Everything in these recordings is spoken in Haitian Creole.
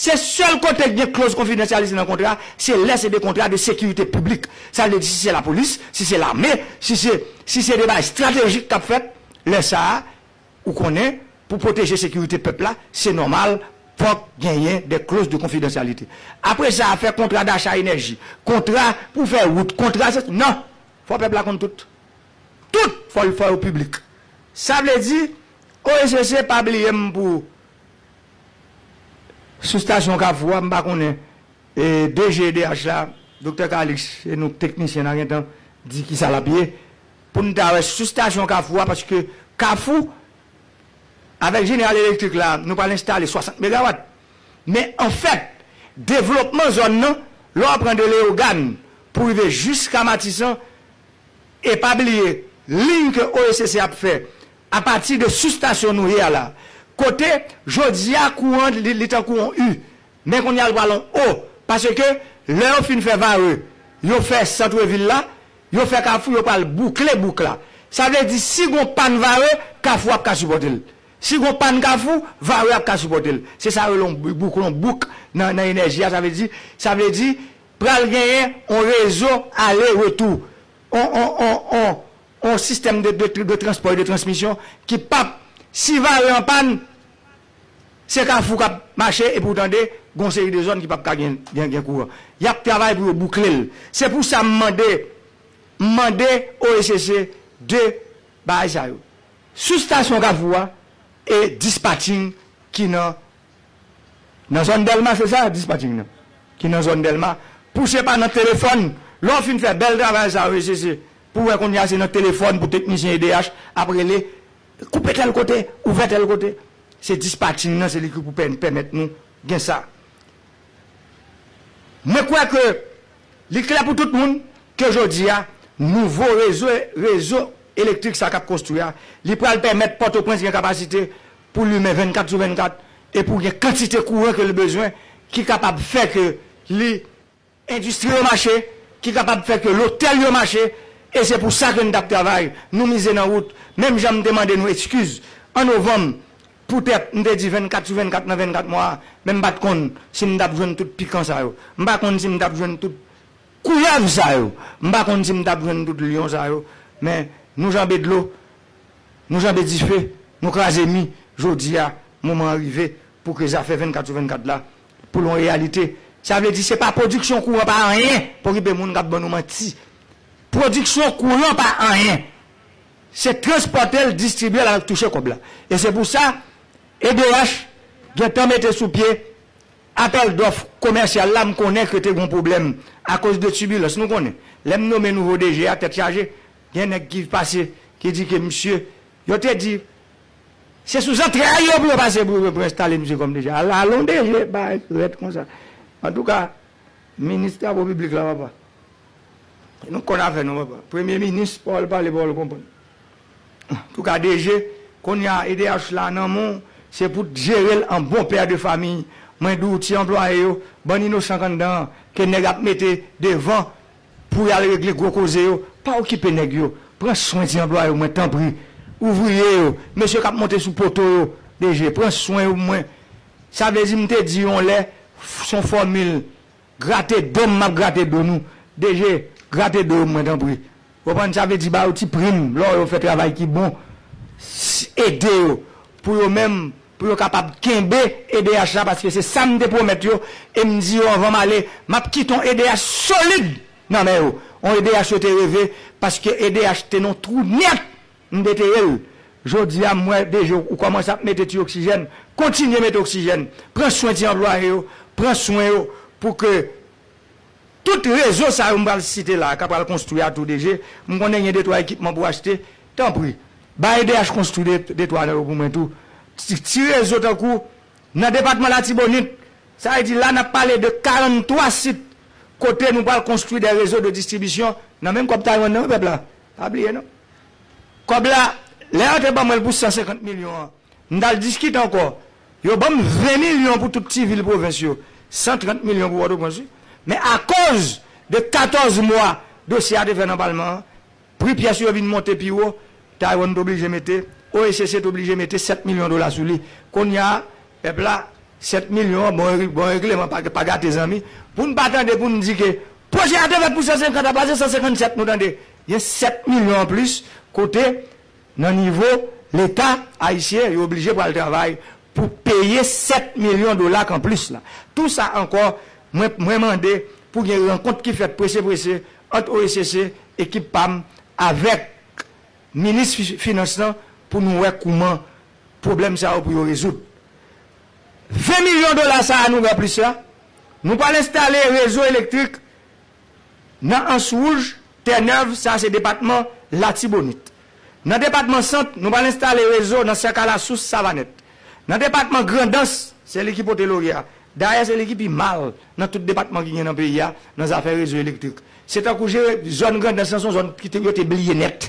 Se sèl kote ki gen kloz konfidansyalite nan kontra, se lè se de kontra de sekirite piblik. Sa vle di si se lapolis, si se lame, si se, si se de bagay estratejik k ap fèt, lè sa a, ou konnen, pou pwoteje sekirite pèp la, se nòmal, fòk genyen de kloz de konfidansyalite. Apre sa a, fè kontra dacha enèji, kontra pou fè wout, kontra sesi, non! Fò pèp la konn tout. Tout! Fò l, fò yo piblik. Sa vle di, OECC pa bliye m pou Sou stasyon Kafou a, m pa konnen DG edh la, Doktè Kalix, se nou teknisyen nan gentan di kisa l ap ye, pou n ta wè sou stasyon Kafou a, paske Kafou, avèk Jeneral Elektrik la, nou pral enstale 60 megawat, men an fèt, devlopman zòn nan, lè w pran de Leyogàn pou rive jiska Matisan, e pa bliye liy ke OECC ap fè, A pati de sous stasyon nou ye a la, kote jodi a kouran li tankou on U, men kounye a l pral on O, paske lè yo fin fè Varreux, yo fè centre ville la, yo fè Kafou, yo pral boukle bouk la. Sa vle di si gon pàn Varreux, Kafou ap ka sipòte l. Si gon pàn Kafou, Varreux ap ka sipòte l. Se sa yo rele on bouk, on bouk nan nan enèji a, sa vle di, sa vle di pral genyen on rezo ale retou, on on on on On sistèm de transpò e de transmisyon ki pap, si vare an pàn, se kafou k ap mache epi ou tande gon seri de zòn ki pap ka gen kouran. Y ap travay pou yo boukle l. Se pou sa m mande, m mande OECC 2 bagay sa yo. Sous stasyon kafou a e dispatching ki nan Nan zòn Dèlma se sa dispatching nan ki nan zòn Dèlma pouse pa nan telefòn lè w fin fè bèl travay sa wi sisi pou wè kounya se nan telefòn pou teknisyen edh ap rele koupe tèl kote ouvè tèl kote se dispatching nan se li ki pou pèmèt nou gen sa mwen kwè ke li klè pou tout moun ke jodi a nouvo rezo elektrik sa k ap konstwi a li pral pèmèt pòtoprens gen kapasite pou limen 24 sou 24 e pou gen kantite kouran ke li bezwen ki kapab fè ke li endistri yo mache, ki kapab fè ke lotèl yo mache e se pou sa ke nou t ap travay, nou mize nan wout menm jan m te mande nou ekskiz an novanm poutèt m te di 24 sou 24 nan 24 mwa a men m pa t konn si m t ap jwenn tout pikan sa yo, m pa konn si m t ap jwenn tout koulèv sa yo, m pa konn si m t ap jwenn tout lyon sa yo men nou janbe dlo Nou janbe dife, nou kraze mi, jodi a, moman an rive pou ke zafè 24 sou 24 la, pou l yon reyalite. Sa vle di se pa pwodiksyon kouran pa anyen, pa okipe moun k ap ban nou manti. Pwodiksyon kouran pa anyen. Se transpòte l, distribye l avèk touche kòb la. E se pou sa, edh gen tan mete sou pye apèl dòf komèsyal la, m konnen ke te gen yon pwoblèm akoz de tibilans. Nou konnen, lè m nome nouvo DG a, tèt chaje, Gen nèg ki pase ki di ke misye, yo te di se sou zantray yo pou yo pase pou yo enstale misye kòm DG. Alon DG bagay rèd konsa. Antouka, minis travo piblik la papa, nou konn afè nou papa. Premye minis pawòl pale pawòl konprann. Antouka DG, kounya edh la nan men w, se pou w t jere l an bon pè de fami. Mwen di w ti anplwaye yo, bann inosan k anndan an ke nèg ap mete devan Pou yal regle gwo koze yo, pa okipe nèg yo, pran swen ti anplwaye w mwen tanpri, ouvriye yo, mesye kap monte sou poto yo, DG, pran swen yo pou mwen. Sa vle di m te di yon lè, son fòmil, grate do m map grate do nou, DG, grate do yo pou mwen tanpri. Ou konprann, sa vle di ba yo ti prim lò yo fè travay ki bon, ede yo pou yo menm pou yo kapab kenbe edh la paske se sa m te pwomèt yo e m di yo anvan m ale m ap kite yon edh solid nan men yo yon edh yo te reve paske edh te nan yon twou nèt m deteye l jodi a m wè dg ou kòmanse ap mete ti oksijèn kontinye mete oksijèn pran swen ti anplwaye yo pran swen yo pou ke Tout rezo sa yo m pral site la a ka pral konstwi a tou de je, m konnen gen de twa ekipman pou achte, tanpri ba edh konstwi de twa nan yo pou mwen tou, ti rezo tankou nan depatman latibonit, sa vle di la n ap pale de 43 sit kote nou pral konstwi dè rezo de distribisyon nan menm kòb Taywann nan wi pèp la, pa bliye non kòb la lè yo te ban mwen l pou 150 milyon an. M t al diskite ankò. Yo ban m 20 milyon pou tout ti vil pwovens yo. 130 milyon pou Pòtoprens wi. Men akoz de 14 mwa dosye a te fè nan palman an, pri pyès yo vin monte pi wo, Taiwan t oblije mete, OHCC t oblije mete 7 milyon dola sou li. Kounya pèp la, 7 milyon an bon bon regleman pa gate zanmi. Pou n pa tande pou n di ke pwojè a te fèt pou 150 apa se 157 nou tande. Gen 7 milyon anplis kote. Nan nivo Leta ayisyen, yo oblije pral travay pou peye 7 milyon dola k anplis la. Tou sa ankò, mwen mwen mande pou gen rankont ki fèt prese prese ant OECC, ekip pa m, avèk minis finans lan pou nou wè kouman pwoblèm sa yo pou yo rezoud. 20 milyon dola sa a nou gen anplis la, nou pral enstale rezo elektrik Nan ans wouj, Tè Nèv, sa a se depatman Latibonit. Nan depatman Sant, nou pral enstale rezo nan Sèka Lasous, Savanèt. Nan depatman Grandans, se li ki pote lorye a. Dayè se li ki pi mal nan tout depatman ki gen nan peyi a nan zafè rezo elektrik. Se tankou jere zòn Grandans lan se yon zòn ki te yo te bliye nèt.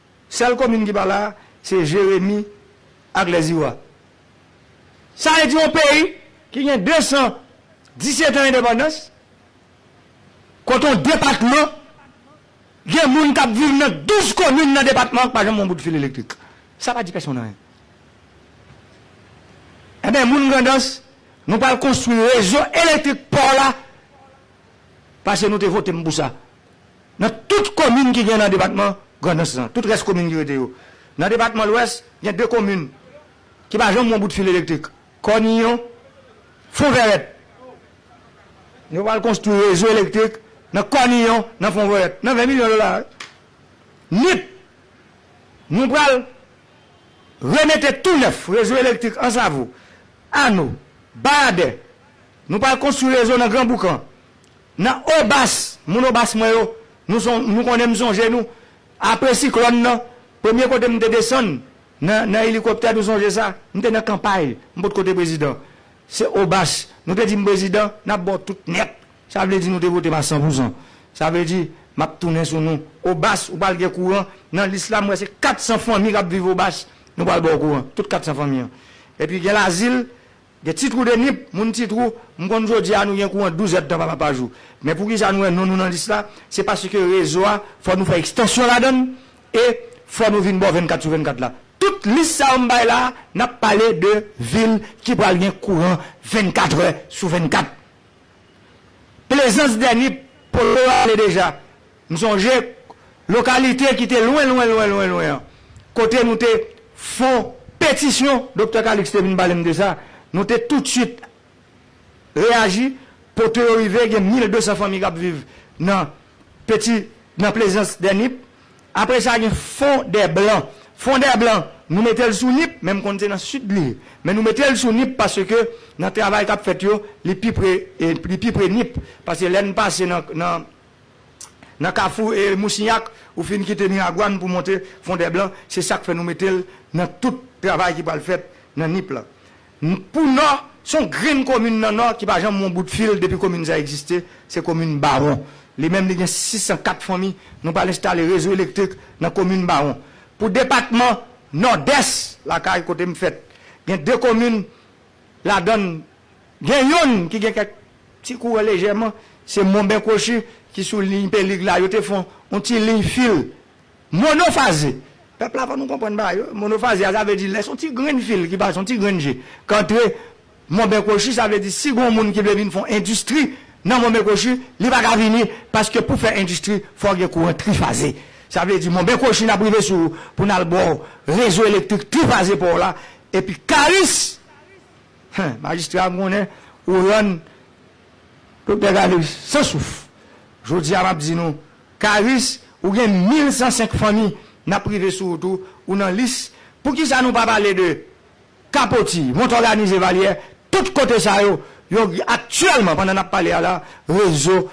Sèl komin ki pa la a se Jeremi ak Lèziwa. Sa vle di yon peyi ki gen 217 an endepandans, kote yon depatman gen moun k ap viv nan 12 komin nan depatman an ki pa janm wè yon bout fil elektrik. Sa pa di pèsonn anyen. Enben, moun Grandans, nou pral konstwi rezo elektrik pa w la, paske nou te vote m pou sa. Nan tout komin ki gen nan depatman Grandans lan, tout rès komin ki rete yo. Nan depatman Lwès, gen 2 komin ki pa janm wè yon bout fil elektrik, Kòniyon, Fonvèrèt. Yo pral konstwi rezo elektrik nan Kòniyon, nan Fonvèrèt, nan 20 milyon dola. Nip, Nou pral remete tou nèf rezo elektrik Ansavo, Ano, Bayadè. Nou pral konstwi rezo nan Granboukan. Nan Obas, moun Obas mwen yo, nou son, nou konnen m sonje nou, apre siklòn nan, premye kote m te desann, nan, nan elikoptè, nou sonje sa? M te nan kanpay, m potko te prezidan. Se Obas, nou te di m prezidan, n ap ba w tout nèt. Sa vle di nou te vote m a san pou san. Sa vle di, m ap tounen sou nou. Obas, ou pral gen kouran, nan lis la m wè se 400 fanmi k ap viv Obas, nou pral ba w kouran, tout 400 fanmi an. Epi gen lazil, Gen ti twou de nip, moun ti twou, m konn jodi a nou gen kouran 12 èdtan pa pa jou. Men pou ki sa nou wè non nou nan lis la, se paske rezo a fò nou fè ekstansyon ladan l e fò nou vin bò 24 sou 24 la. Tout lis sa yo m bay la a, n ap pale de vil ki pral gen kouran 24 è sou 24. Plezans dè nip, Polo ale deja. M sonje lokalite ki te lwen lwen lwen lwen lwen an kote nou te fon petisyon, Doktè Calixte te vin pale m de sa, nou te toutswit reyaji pote yo rive gen 1200 fanmi k ap viv nan peti nan plezans dè Nip. Apre sa gen fon dè blan, fon dè blan nou mete l sou Nip men m konn se nan sid li ye men nou mete l sou Nip paske nan travay k ap fèt yo li pi pre li pi pre Nip paske lè n pase nan nan nan kafou e mousinyak ou fin kite miragwan pou monte fondèblan se sak fè nou metel nan tout travay ki pral fèt nan nip lan pou nò son grenn komin nan nò ki pa janm won bout fil depi komin sa egziste se komin bawon li menm li gen 604 fanmi nou pral enstale rezo elektrik nan komin bawon pou depatman nòdès lakay kotem fèt gen 2 komin Ladan l, gen youn ki gen kèk ti kouran lejèman, se Monben Kwochi ki sou liy Pelig la, yo te fon yon ti liy fil monofaze. Pèp la fò nou konprann bagay yo, monofaze a sa vle di lè son ti grenn fil ki pase, yon ti grenn je k antre Monben Kwochi, sa vle di si gon moun ki vle vin fon endistri nan Monben Kwochi, li pa ka vini paske pou fè endistri fò gen kouran trifaze. Sa vle di Monben Kwochi n ap rive sou ou pou n al ba w rezo elektrik trifaze pa w la, Epi Karis! Hen, majistra m konnen ou rann Doktè Karis san souf. Jodi a m ap di nou, Karis, ou gen 1105 fanmi n ap rive sou ou tou, ou nan lis. Poukisa nou pa pale de Kapoti, Montòganize, Valyè, tout kote sa yo, yo aktyèlman pandan n ap pale a la, rezo.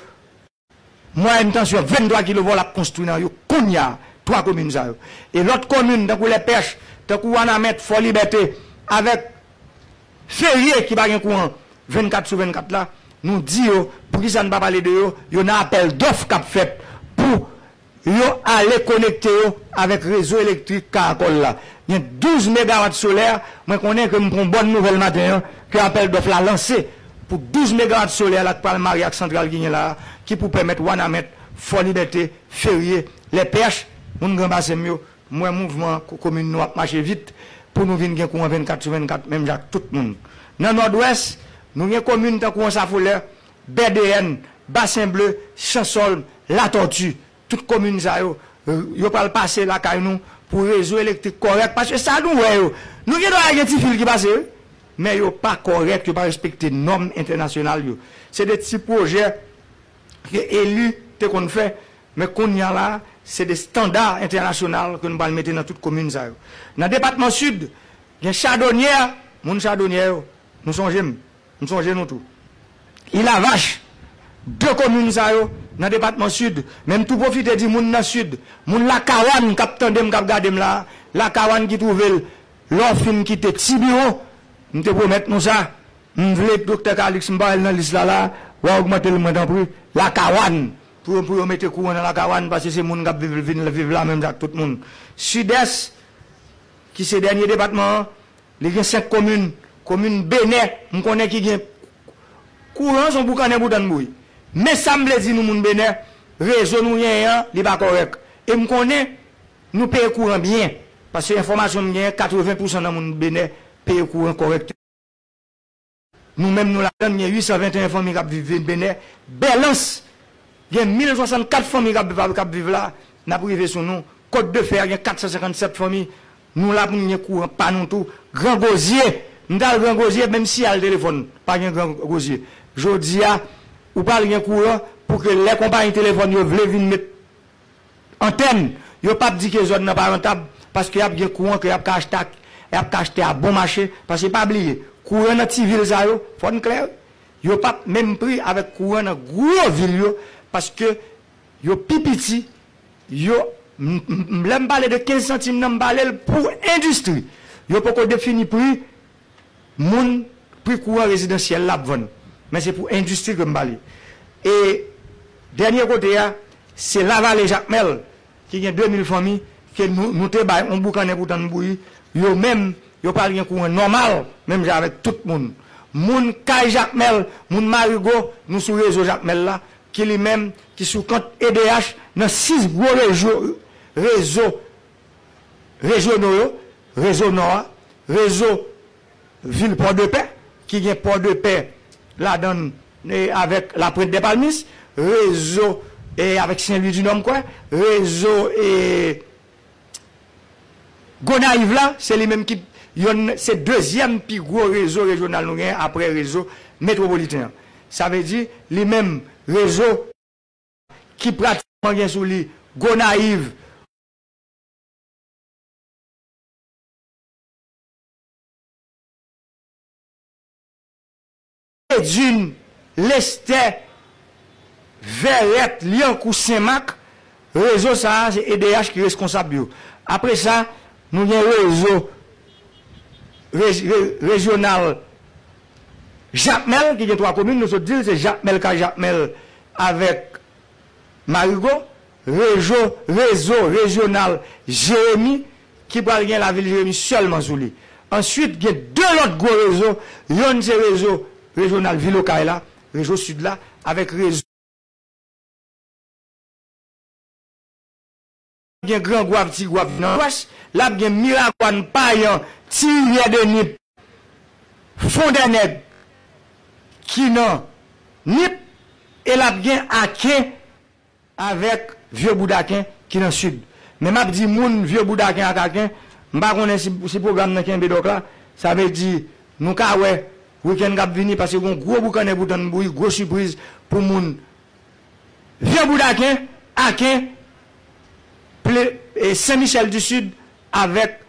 Mwayèn tansyon 23 kilovòl ap konstwi nan yo kounya 3 komin sa yo. E lòt komin tankou Lèpèch, tankou Wanament, Fòlibète avèk Ferye ki pa gen kouran 24 sou 24 la, nou di yo poukisa n pa pale de yo, yo nan apèl dòf k ap fèt pou Yo ale konekte yo avèk rezo elektrik Caracol la. Gen 12 megawat solè, mwen konnen ke m pran yon bòn nouvèl maten an, ke apèl dòf la lanse pou 12 megawat solè la k pral marye ak santral ki gen la a, ki pou pèmèt Wanament, Fòlibète, Ferye, Lèpèch, moun Gran Basen m yo, m wè mouvman komin nou ap mache vit, pou nou vin gen kouran 24 sou 24 menm jan ak tout moun. Nan Nòdwès, nou gen komin tankou Ansafolè, Bèdeyèn, Basen Ble, Chansòlm, Latòti, tout komin sa yo, yo pral pase lakay nou pou rezo elektrik kòrèk paske sa nou wè yo, nou gen dwa wè gen ti fil ki pase wi, men yo pa kòrèk, yo pa respekte nòm entènasyonal yo. Se de ti pwojè ke eli te konn fè, men kounye a la, se de standa entènasyonal ke nou pral mete nan tout komin sa yo. Nan depatman Sid, gen chadonyè, moun chadonyè yo, nou sonje m, M sonje nou tou. Ilavach, 2 komin sa yo nan depatman Sid. Men m tou pwofite di moun nan Sid, moun Lakawann k ap tande m, k ap gade m la a, Lakawann ki twouve l lè w fin kite Tibiwon, m te pwomèt nou sa, m vle Doktè Kaliks, m pa wè l nan lis la la a, w a ogmante l mwen tanpri, Lakawann, pou yo mete kouran nan Lakawann paske se moun k ap viv vin viv la menm jan ak tout moun. Sidès, ki se dènye depatman an, Li gen 5 komin, komin Benè m konnen ki gen kouran son boukannen boudann bouyi. Men sa m vle di nou moun Benè, rezo nou genyen an li pa kòrèk. E m konnen nou peye kouran byen, paske enfòmasyon m genyen 80 pousan nan moun Benè peye kouran kòrèkteman. Nou menm nou ladann gen 821 fanmi kap viv vil benè, bèlans gen 1064 fanmi kap viv la, nap rive sou nou, kot de fè a gen 457 fanmi, nou la poun gen kouran pa nou tou, gran gozye, m tal gran gozye menm siyal telefòn pa gen gran gozye, jodia ou pral gen kouran pou ke lè konpayi telefòn yo vle vin met Antèn, yo pap di ke zòn nan pa rantab paske yap gen kouran ke yap ka achte ak yap ka achte a bon mache paske pa bliye kouran nan ti vil sa yo fòn klè wi yo pap menm pri avèk kouran nan gwo vil yo paske yo pi piti yo m lèm pale de 15 santim nan m palel pou endistri yo poko defini pri moun pri kouran rezidansyèl la ap vann men se pou endistri ke m pale e dènye kote a se lavale jakmèl ki gen 2 mil fanmi ke nou te bay yon boukannen pou tann bouyi yo menm yo pral gen kouran nòmal menm jan avèk tout moun moun kay jakmèl moun marigo nou sou rezo jakmèl la ki li menm ki sou kont edh nan 6 gwo rezo rejyonno yo, Rezo Nò a, Rezo Vil Pòdepè ki gen Pòdepè ladan l avèk Laprent dè Palmis, Rezo avèk Sen Lwi di Nò m kwè, Rezo Gonayiv la se li menm ki yonn se dezyèm pi gwo rezo rejyonal nou genyen aprè Rezo Metwopoliten an. Sa vle di li menm Rezo ki pratikman gen sou li Gonayiv, Edune Lestè Vèrèt Lyankou Senmak Rezo sa a se edh ki reskonsab yo. Apre sa, nou gen rezo rejyonal Jakmèl ki gen 3 komin, nou sot di l se Jakmèl, Kajakmèl avèk. Marigot, rejo, rezo, rejyonal, Jeremi, ki pral gen lavil Jeremi sèlman sou li. Answit, gen 2 lòt gwo rezo, yonn se rezo rejyonal vil Okay la, rejo sid la, avèk rezo. gen Gran Gwav, Ti Gwav nan lwès, l ap gen Miragwàn, Payan, Ti Rivyè de Nip, Fon dè Nèg ki nan Nip e l ap gen Aken avèk Vye Boudaken ki nan Sid. Men m ap di moun Vye Boudaken ak Aken, m pa konnen si pwogram nan kenbe dòk la, sa vle di nou ka wè wikenn k ap vini paske gen yon gwo boukannen pou tann bouyi, gwo sipriz pou moun. Vye bout Aken, Aken, ple, e Sen Michèl di Sid avèk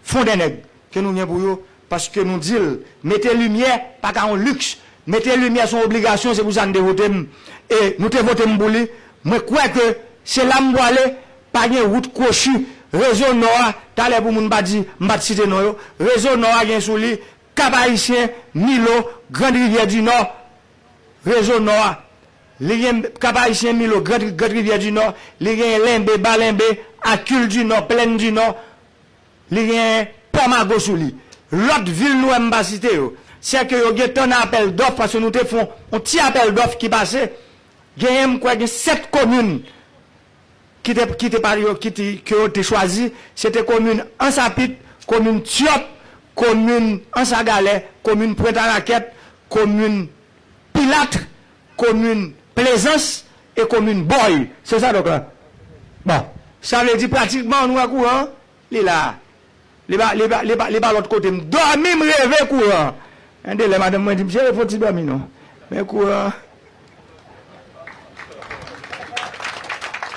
Fon dè Nèg ke nou gen pou yo paske nou di l mete limyè pa ka yon liks, mete limyè son obligasyon se pou sa n te vote m e nou te vote m pou li mwen kwè ke se la m pwale pa gen wout kwochi rezo Nò a talè pou moun pa di m pa t site non yo rezo Nò a gen sou li Kap Ayisyen, Milo, Grandrivyè di Nò rezo Nò a Li gen Kap Ayisyen, Milo, Grand Grand Rivyè di Nò, li genyen Lenbe, Ba Lenbe, Akul di Nò, Plèn di Nò, li genyen Pò Mago sou li. Lòt vil nou wè m pa site yo, sè ke yo gentan nan apèl dòf paske nou te fon on ti apèl dòf ki pase, genyen m kwè gen 7 komin ki te ki te pa yo ki te ke yo te chwazi, se te komin Ansapit, komin Tyòt, komin Ansagalè, komin Pwent Arakèt, komin. Pilatre, komin Plezans e komin Bòy. Se sa donk la? Bon. Sa vle di pratikman nou wè kouran an, li la a. Li pa, li pa, li pa, li pa lòt kote. M dòmi, m reve kouran an. Gen de lè madanm mwen di m, cheri fò w ti dòmi non. Men kouran an.